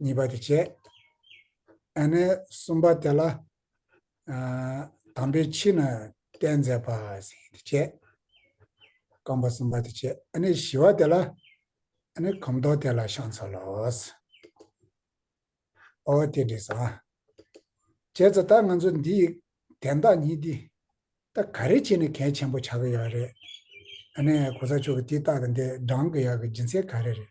གཉིས་པ་དེ་བྱས། ཨ་ནེ་གསུམ་པ་དེ་ལ་དམ་པའི་ཕྱི་ན་བསྟན་མཛད་པ་ཞེས་དེ་བྱས། རྐང་པ་གསུམ་པ་དེ་བྱས་ཨ་ནེ་བཞི་བ་དེ་ལ་ཨ་ནེ་གོམ་མདོག་དེ་ལ་ཤངས་ཚོལ་ལོ། ཨོ་དེ་འདྲས་སོ། བྱས་ཙོ་ད་ང་ཚོ་འདི་ཡི་དན་རྟགས་ཉིད་འདི་ད་ག་རེ་བྱས་ནས་གལ་ཆེན་པོ་ཆགས་ཀྱི་ཡོད་རེད། ཨ་ནེ་གོ་ས་མཆོག་གི་དེའི་རྟགས་དང་དེ་བགྲང་གི་ཡོད་གི་སྦྱིན་སྲེག་ག་རེ་རེད།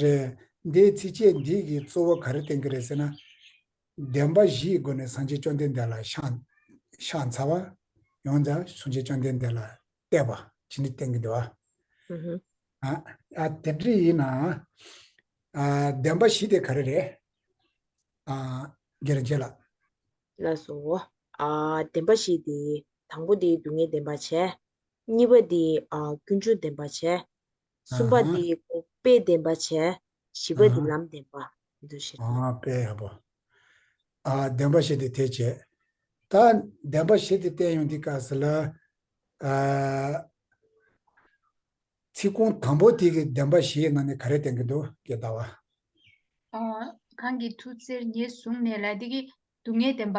རེད། འདིའི་ཚིགས་བཅད་འདི་ཡི་གཙོ་བོ་ག་རེ་བསྟན་གྱི་རེད་ཟེར་ན། བདེན་པ་བཞིའི་སྒོ་ནས་སངས་རྒྱས་བཅོམ་ལྡན་འདས་ལ་ཤངས། ཤངས་ཚ་བ། ཡོངས་དག་སངས་རྒྱས་བཅོམ་ལྡན་འདས་ལ་གཏད་པ་ཇི་འདྲི་བསྟན་གྱི་འདུག་ཨ། དེ་འདྲི་ཡིན་ན། བདེན་པ་བཞི་དེ་ག་རེ་རེད། རྒྱལ་རིན་ཆེན་ལགས། ལ་སོ། བདེན་པ་བཞི་དེ། དང་པོ་དེ་སྡུག་བསྔལ་བདེན་པར་བྱས། གཉིས་པ་དེ། ཀུན་འབྱུང་བདེན་པར་བྱས། གསུམ་པ་འདི་ཡི་གོ། དཔེ་བདེན་པ་བྱས། བཞི་པ་འདི་ལམ་བདེན་པ། འདུ་བྱེད་དང། དཔེ་ཡག་པོ། བདེན་པ་བྱས་ཏེ་དེ་བྱས། ད། བདེན་པ་བྱས་ཏེ་བསྟན་ཡོང་འདི་སྐབས་སུ་ལ། ཚིག་རྐང་དང་པོ་དེ་གི་བདེན་པ་བཞིའི་ནང་ནས་ག་རེ་བསྟན་གི་འདུག་སྐད་བརྡ་བ། གང་གི་མཐུ་རྩེར་ངེས་བཟུང་ནས་ལ་དེ་གི་སྡུག་བསྔལ་བདེན་པ།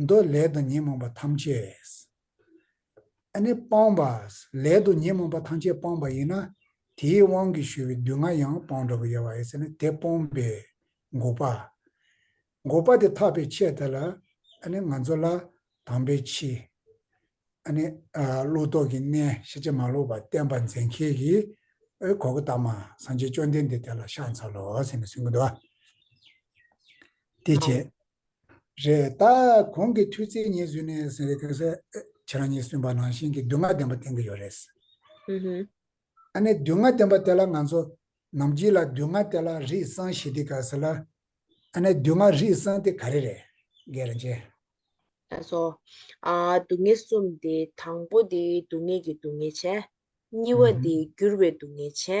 མདོས་ལས་དང་ཉོན་མོངས་པ་ཐམས་ཅད་ཨ་ནི་སྤངས་པ། ལས་དང་ཉོན་མོངས་པ་ཐམས་ཅད་སྤངས་པ་ཡིན་ན་དེའི་དབང་གིས་ཞུ་བའི་སྡུག་བསྔལ་ཡང་སྤངས་འགྲོ་བ་ཡོད་བ་ཡིན་ཟེར་ནས་དེ་སྤོངས་པས་འགོག་པ། འགོག་པ་དེ་ཐག་པའི་ཆད་དེ་ལ་ཨ་ནི་ང་ཚོ་ལ་དང་པའི་ཕྱི། ཨ་ནི་བློ་རྟོག་གི་གནས་ཤེས་བྱ་མ་ལོག་པ་བསྟན་པ་མཛད་མཁས་ཀྱི་ཨོའི་གོ་གི་དྭངས་མ་སངས་རྒྱས་བཅོམ་ལྡན་འདས་དེ་ལ་ཤ་འཚལ་ལོ་ཟེར་ནས་གསུངས་གི་འདུག་བ། དེ་བྱས། རེད་ད། གོང་གི་མཐུས་རྩེ་གཉིས་བཟོས་ནས་ཟེར་བའི་སྐད་ཆ། ཁྱེད་རང་གཉིས་གསུངས་པ་ནང་བཞིན་གྱི་སྡུག་བསྔལ་བདེན་པ་བསྟན་གྱི་ཡོད་རེད། ཨ་ནི་སྡུག་བསྔལ་བདེན་པ་དེ་ལ་ང་ཚོ། ནམ་རྒྱུན་ལ་སྡུག་བསྔལ་དེ་ལ་རིགས་གསང་ཞེས་དེ་ག་ཟེར་ལ། ཨ་ནི་སྡུག་བསྔལ་རིགས་གསང་དེ་ག་རེ་རེད། རྒན་རིན་ཆེན། ད་གཟོ། སྡུག་བསྔལ་གསུམ་དེ་དང་པོ་དེ་སྡུག་བསྔལ་གྱི་སྡུག་བསྔལ་ཆེ། གཉིས་བ་དེ་འགྱུར་བའི་སྡུག་བསྔལ་ཆེ།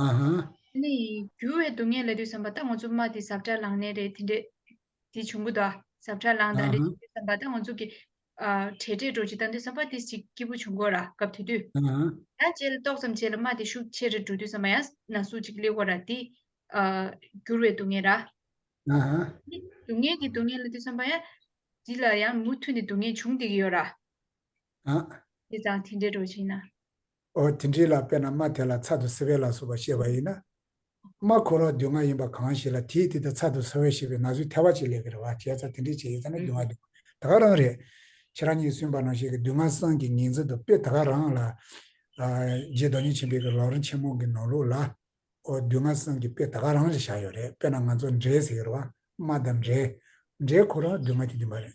ཨ་ཧ། དེ་ནི་འགྱུར་བའི་སྡུག་བསྔལ་ལ་དུས་བསམ་པ་ལྟ་ངོ་ཙུབ་མ་དེ་ཟབ་ཁྲ་ལངས་ནས་རེད་དེ་འདྲས་དེ་བྱུང་གི་དོ་ཟབ་ཁྲ་ལངས་ད་འདྲས་ཀྱི་དུས་བསམ་པ་ལྟ་ངོ་ཙུབ་ཀྱི། བྲལ་བྲལ་འགྲོ་ཅིག་ལྟ་དུས་བསམ་པ་དེ་ཅིག་སྐྱིད་པོ་བྱུང་གོ་ར་སྐབས་དེ་དུས། ད་བཅལ་ཏོག་ཙམ་བྱས་ལ་མ་དེ་ཤུགས་ཆེ་རེ་འགྲོ་དུས་བསམ་པ་ཡང་ན་སུ་ཅིག་སླེ་གོ་ར་དེ། འགྱུར་བའི་སྡུག་བསྔལ་ར། དེ་ནི་སྡུག་བསྔལ་གྱི་སྡུག་བསྔལ་ལ་དུས་བསམ་པ་ཡང། འདི་ལ་ཡང་མུ་མཐུད་ནས་སྡུག་བསྔལ་འབྱུང་བསྡད་ཀྱི་ཡོད་ར། དེ་ཙང་དེ་འདྲས་འགྲོ་ཅིག་ན། ཨོ་དེ་འདྲའི་ལ་དཔེར་ན་རྨ་དེ་ལ་ཚ་དུ་སེ་བའི་ལ་སོགས་པ་ཤེས་པ་ཡིན་ན། རྨ་ཁོ་རོག་སྡུག་བསྔལ་ཡིན་པ་གང་ཞིག་ལ་དེས་དེ་ལྟར་ཚ་དུ་སེ་བའི་ཤེས་པའི་ན་ཟུག་ཐལ་བ་ཅིག་ལས་ཀྱི་རེ་བ་བྱས་ཚ་དེ་འདྲའི་བྱས་ཡོད་ཚ་ན་སྡུག་བསྔལ་སྡུག་ད་ག་རང་རེད། ཁྱེད་རང་གཉིས་སུན་པ་ནང་ཞིག་གི་སྡུག་བསྔལ་སངས་ཀྱི་ཉིང་མཚན་དུ་དཔེ་ད་ག་རང་ལ། རྗེ་རྡོ་རྗེ་ཆེན་པོའི་གི་ལོག་རིན་ཆེན་མོ་གི་ནོར་ལུག་ལ། ཨོ་སྡུག་བསྔལ་སངས་ཀྱི་དཔེ་ད་ག་རང་ལ་བཞག་ཡོད་རེད་དཔེ་ན་ང་ཚོ་འདྲེ་ཟེར་གི་རེ་བ་རྨ་དང་འདྲེ། འདྲེ་ཁོ་རང་སྡུག་བསྔལ་དེ་འདི་མ་རེད།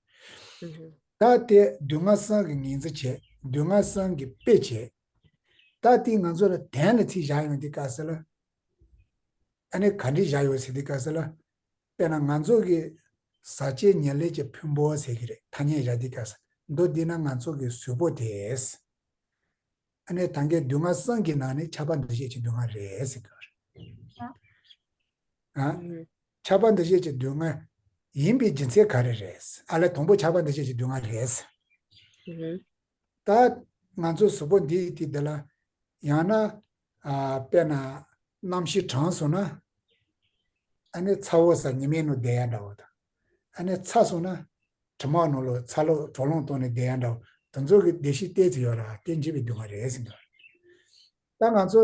ད་ལྟའི་སྡུག་བསྔལ་སངས་ཀྱི་ངེས་འཛིན་བྱེད། སྡུག་བསྔལ་སངས་ཀྱི་དཔེ་བྱེད། ད་ལྟའི་ང་ཚོ་ལ་དན་ལ་ཚིག་བཞག་ཡོང་དེ་དཀའ་ཟེར་ལ། ཨ་ནེ་ག་འདྲི་བཞག་ཡོད་ཟེར་དེ་དཀའ་ཟེར་ལ། དཔེར་ན་ང་ཚོ་གི་བཟའ་བཅའི་ཉེར་ལེགས་ཀྱི་ཕུན་པོ་ཟེར་གྱི་རེད་ཐ་སྙད་བཞག་དེ་དཀའ་ཟེར་མདོ་འདི་ན་ང་ཚོ་གི་གཟུ་བོ་དེས། ཨ་ནེ་ད་འགའི་སྡུག་བསྔལ་སངས་ཀྱི་ནང་ནས་ཆ་པ་འདུ་ཤེས་ཀྱི་སྡུག་བསྔལ་རེད་ཟེར་གྱི་རེད། ཆགས་པ་འདུ་བྱེད་ཀྱི་སྡུག་བསྔལ། ཡིན་པའི་སྦྱིན་སྲེག་ག་རེ་རེད། ཨ་ལས་དང་པོ་ཆགས་པ་འདུ་བྱེད་ཀྱི་སྡུག་བསྔལ་རེད། ད། ང་ཚོ་གཟུགས་པོ་འདི་ཡི་དེ་ལ། ཡང་ན། དཔེར་ན། རྣམ་བཞི་གྲངས་སོང་ན། ཨ་ནི་ཚ་བོ་ས་ཉི་མའི་ནུ་བདེ་ཡ་འདྲ་བོ་དང། ཨ་ནི་ཚ་སོང་ན། དྲི་མ་ནོར་ལོ་ཚ་ལོ་གྲོག་རླུང་གཏོང་ནི་བདེ་ཡ་འདྲ་བོ་དུ་ཚོད་ཀྱི་བདེ་གཤིག་བལྟས་ཚུལ་ཡོད་ར་དེ་འཇིགས་པའི་སྡུག་བསྔལ་རེད་ཟེར་འདུག། ད་ང་ཚོ།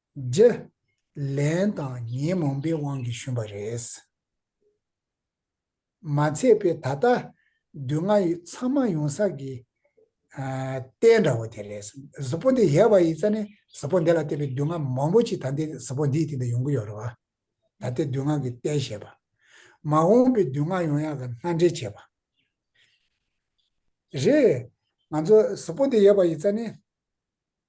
བརྗེ། ལན་དང་ཉེས་མང་པའི་དབང་གིས་ཞུམ་པ་རེད། མ་ཚད་པའི་ད་ལྟ་བདུད་ལྔ་ཡི་ཚང་མ་ཡོང་ས་ཀྱི། རྟེན་འདྲ་བོ་དེ་རེད། གཟུ་བོ་འདི་ཡལ་བ་ཡིན་ས་ནི་གཟུ་བོ་འདི་ལ་བལྟས་པའི་བདུད་ལྔ་མང་པོ་ཅིག་ད་ལྟའི་གཟུ་བོ་འདིའི་སྟེང་དུ་ཡོང་གི་ཡོད་རེད་བ། ད་ལྟའི་བདུད་ལྔ་གི་རྟེན་བྱེད་པ། མ་འོངས་པའི་བདུད་ལྔ་ཡོང་ཡག་གི་སྣ་འདྲེན་བྱེད་པ། རེད། ང་ཚོ་གཟུ་བོ་འདི་ཡལ་བ་ཡིན་ས་ནི།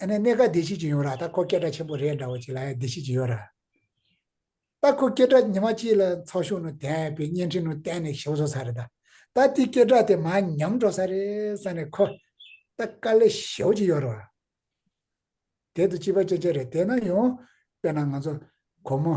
ཨ་ནི་གནས་ག་བདེ་སྐྱིད་ཅིག་ཡོང་ར་ད་ཁོ་སྐད་སྒྲ་ཆེན་པོ་རེད་འདྲ་བོ་ཅིག་ལ་ཡང་བདེ་སྐྱིད་ཅིག་ཡོད་ར། ད་ཁོ་སྐད་སྒྲ་ཉི་མ་གཅིག་ལ་ཚགས་ཤོག་ནུ་དན་པའི་བརྙན་འཕྲིན་ནུ་དན་ནས་ཞོ་བཟོ་ས་རེད་ད། ད་དེའི་སྐད་སྒྲ་དེ་མ་ཉམས་འགྲོ་ས་རེད་བསམ་ནས་ཁོ། ད་དཀའ་ལས་ཞེ་བོ་ཅིག་ཡོད་ར། དེ་དུ་སྐྱིད་པ་ཅན་ཅན་རེད་དེ་ན་ཡོང། དཔེར་ན་ང་ཚོ། ཁོ་མོ།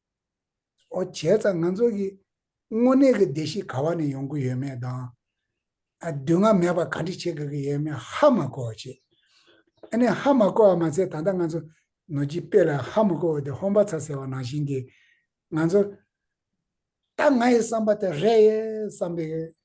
འོ་བྱས་ཙང་ང་ཚོ་གི་དངོས་གནས་ཀྱི་བདེ་སྐྱིད་ག་བ་ནས་ཡོང་གི་ཡོད་མེད་དང། སྡུག་བསྔལ་མེད་པར་ག་འདྲི་བྱེད་དགོས་ཀྱི་ཡོད་མེད་ཧ་མ་གོ་བ་བྱེད། ཨ་ནི་ཧ་མ་གོ་བ་མ་ཚད་ད་ལྟ་ང་ཚོ་ནོར་གྱི་དཔེ་ལ་ཧ་མ་གོ་བ་དེ་ཧོམ་པ་ཚ་ཟེར་བ་ནང་བཞིན་གྱི་ང་ཚོ། ད་ང་ཡི་བསམ་པ་དེ་རེད་བསམ་པའི་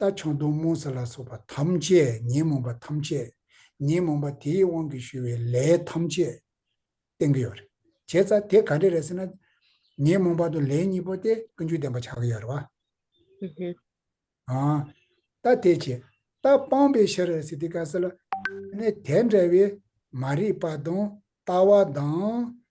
རྟ་ཆང་དུག་མོ་ཟ་ལ་སོགས་པ་ཐམས་ཅད་ཉོན་མོངས་པ་ཐམས་ཅད་ཉོན་མོངས་པ་དེའི་དབང་གིས་ཞུ་བའི་ལས་ཐམས་ཅད་བསྟན་གྱི་ཡོད་རེད། བྱས་ཙང་དེ་ག་འདྲ་རེད་ཟེར་ན། ཉོན་མོངས་པ་དང་ལས་གཉིས་པོ་དེ་ཀུན་སྤྱོད་ལྡན་པ་བྱ་གི་ཡོད་རེད་བ། རྟ་དེ་བྱས་རྟ་སྤངས་པའི་ཕྱིར་རེད་ཟེར་དེ་ག་ཟེར་ལ། དེ་འདྲ་བའི་མ་རིག་པ་དང་ལྟ་བ་དང་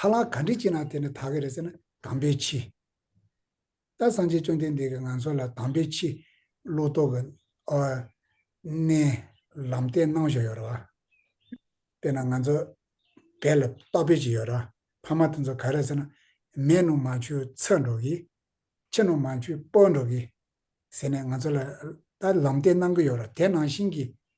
ཧ་ལ་ག་འདྲི་བྱེད་ན་དེ་ནི་ད་གེ་རེད་ཟེར་ན་དམ་པའི་ཆེ། ད་སངས་རྒྱས་བཅོམ་ལྡན་འདས་ཀྱིས་ང་ཚོ་ལ་དམ་པའི་ཆེ། བློ་ལྡོག་གི། གནས། ལམ་བསྟན་གནང་བཞག་ཡོད་རེད་བ། དཔེར་ན་ང་ཚོ། བལ་ལ་རྟག་དཔེ་ཅིག་ཡོད་རེད་བ། ཕ་མ་དེ་ཚོ་ག་རེད་ཟེར་ན། མས་ནུ་མ་ཆུ་འཚོད་འགྲོ་གི། ཁྱི་ནུ་མ་ཆུ་སྤོ་འགྲོ་གི། ཟེར་ནས་ང་ཚོ་ལ། ལམ་བསྟན་གནང་གི་ཡོད་རེད་དེ་ནང་བཞིན་གྱི།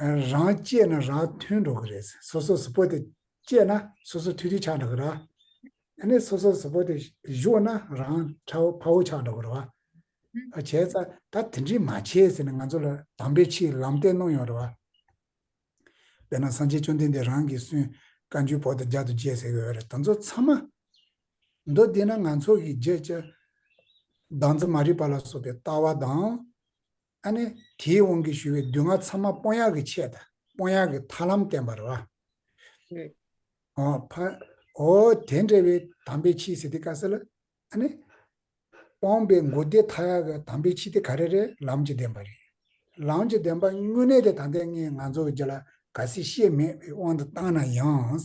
རང་སྤྱད་ན་རང་མཐུན་འགྲོ་གི་རེད། སོ་སོ་སོ་པོ་དེ་སྤྱད་ན་སོ་སོ་ཐུགས་རྗེ་ཆགས་འགྲོ་གི་ར། ཨ་ནི་སོ་སོ་སོ་པོ་དེ་གཞུག་ན་རང་ཁྲ་བོ་ཕ་བོ་ཆགས་འགྲོ་གི་ར། བྱས་ཙང་ད་དེ་འདྲི་མ་བྱེད་ཟེར་ནས་ང་ཚོ་ལ་དམ་པའི་ཕྱིའི་ལམ་སྟན་གནོང་ཡོང་ར། དཔེར་ན་སངས་རྒྱས་བཅོམ་ལྡན་འདས་རང་གིས་སུན་བཀའ་འཇུག་བོག་དང་རྒྱ་དུ་བཅས་ཟེར་གི་ཡོད་ར་ད་ཚོ་ཚང་མ། མདོ་འདི་ན་ང་ཚོ་གི་བརྗེད་བྱ། སྡང་རྩུབ་མ་རིག་པ་ལ་སོགས་པའི་ལྟ་བ་དང། ཨ་ནི་དེའི་དབང་གིས་ཞུ་བའི་བདུད་ལྔ་ཚང་མ་སྤོང་ཡག་གི་ཆེད་དང་སྤོང་ཡག་གི་ཐར་ལམ་བསྟན་པར་ར། འོ། དེ་འདྲ་བའི་དམ་པའི་ཆིས་སི་ཏི་ཀ་སེ་ལ། ཨ་ནི། སྤོང་པའི་མགོ་བདེ་མཐའ་ཡག་གི་དམ་པའི་ཆིས་ཏི་ཀ་རེ་རེ་ལམ་གྱི་བདེན་པ་རེད། ལམ་གྱི་བདེན་པ་དངོས་གནས་དེ་ད་ལྟའི་ངས་ང་ཚོ་བརྒྱ་ལ་ག་སྲིད་ཤེས་མེད་པའི་དབང་དུ་བཏང་ན་ཡང།